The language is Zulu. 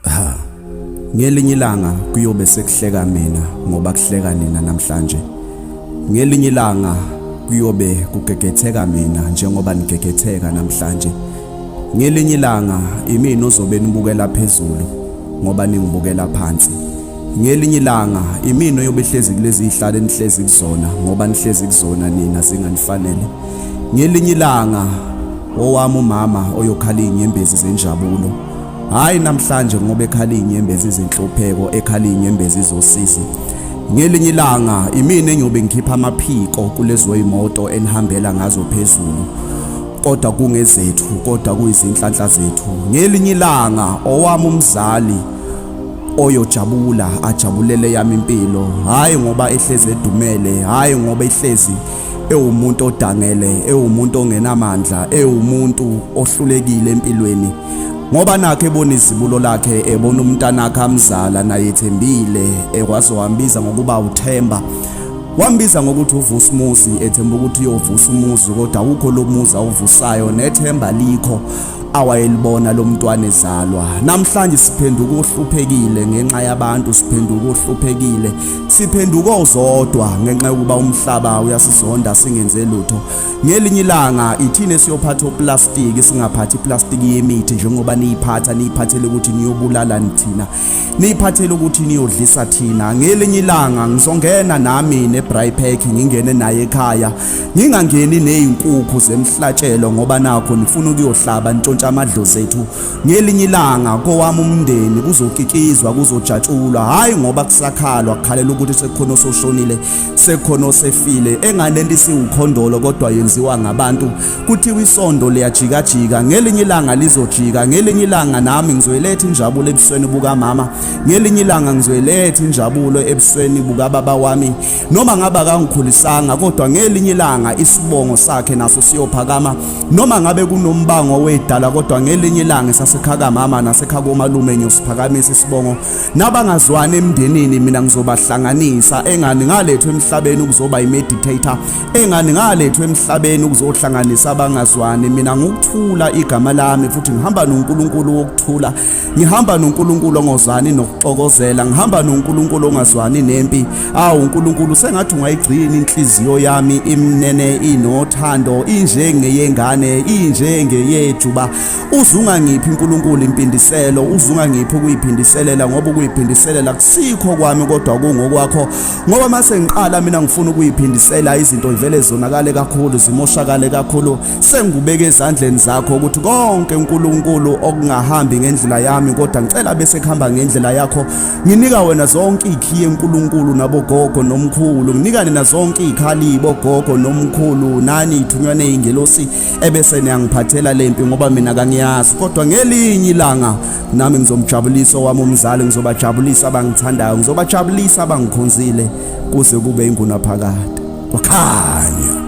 ha ngelinye ilanga kuyobe sekuhleka mina ngoba kuhleka nina namhlanje ngelinye ilanga kuyobe kugegetheka mina njengoba nigegetheka namhlanje ngelinye ilanga imina ozobe nibukela phezulu ngoba ningibukela phansi ngelinye ilanga imino yobe hlezi kulezi zihlale nihlezi kuzona ngoba nihlezi kuzona nina zinganifanele ngelinye ilanga owami umama oyokhala inyembezi zenjabulo Hayi namhlanje ngoba ekhala inyembezi izinhlupheko ekhala inyembezi izosizi. Ngelinye ilanga imina engiyobe ngikhipha amaphiko kulezo imoto enihambela ngazo phezulu. Kodwa kungezethu kodwa kuyizinhlanhla zethu. Ngelinye ilanga owami umzali oyojabula ajabulele yami impilo hayi ngoba ehlezi edumele hayi ngoba ehlezi ewumuntu odangele ewumuntu ongenamandla ewumuntu ohlulekile empilweni ngoba nakhe ebona izibulo lakhe ebona umntanakhe amzala naye ethembile ekwazi wambiza ngokuba uthemba wambiza ngokuthi uvusa umuzi ethemba ukuthi uyovusa umuzi kodwa awukho lo muzi awuvusayo nethemba likho awayelibona lomntwana ezalwa namhlanje siphenduka ohluphekile ngenxa yabantu siphenduka ohluphekile siphenduka ozodwa ngenxa yokuba umhlaba uyasizonda singenze lutho ngelinye ilanga ithina siyophatha oplastiki singaphathi iplastiki yemithi njengoba niyiphatha niyiphathele ukuthi niyobulala nithina niyiphathele ukuthi niyodlisa thina ngelinye ilanga ngizongena nami nebry pack ngingene naye ekhaya ngingangeni nezinkukhu zemhlatshelo ngoba nakho nifuna ukuyohlaba ntshontsha amadlozi ethu ngelinye ilanga kowami umndeni kuzokikizwa kuzojatshulwa hayi ngoba kusakhalwa kukhalela ukuthi sekukhona ososhonile sekhona osefile engane lento isiwukhondolo kodwa yenziwa ngabantu kuthiwa isondo liyajikajika ngelinye ilanga lizojika ngelinye ilanga nami ngizoyiletha injabulo ebusweni bukamama ngelinye ilanga ngizoyiletha injabulo ebusweni bukababa wami noma ngabe akangikhulisanga kodwa ngelinye ilanga isibongo sakhe naso siyophakama noma ngabe kunombango wedala kodwa ngelinye ilanga sasekhakamama nasekhakomalume ngiyosiphakamisa isibongo nabangazwani emndenini mina ngizobahlanganisa engani ngalethwe emhlabeni ukuzoba imeditator engani ngalethwe emhlabeni ukuzohlanganisa abangazwani mina ngokuthula igama lami futhi ngihamba noNkulunkulu wokuthula ngihamba noNkulunkulu ongozani nokuxokozela ngihamba noNkulunkulu ongazwani nempi awu uNkulunkulu sengathi ungayigcini inhliziyo yami imnene inothando injengeyengane injengeyethu ba uzunga ngiphi uNkulunkulu impindiselo uzunga ngiphi ukuyiphindiselela ngoba ukuyiphindiselela kusikho kwami kodwa kungokwakho ngoba mase ngiqala mina ngifuna ukuyiphindisela izinto ivele zonakale kakhulu zimoshakale kakhulu sengubeke ezandleni zakho ukuthi konke uNkulunkulu okungahambi ngendlela yami kodwa ngicela bese kuhamba ngendlela yakho nginika wena zonke ikhiye uNkulunkulu nabogogo nomkhulu nginika nina zonke ikhali bogogo nomkhulu nani ithunywa nezingelosi ebese niyangiphathela lempi ngoba mina kangiyazi kodwa ngelinye ilanga nami ngizomjabulisa owami umzali ngizobajabulisa abangithandayo ngizobajabulisa abangikhonzile kuze kube ingunaphakade kwakhanya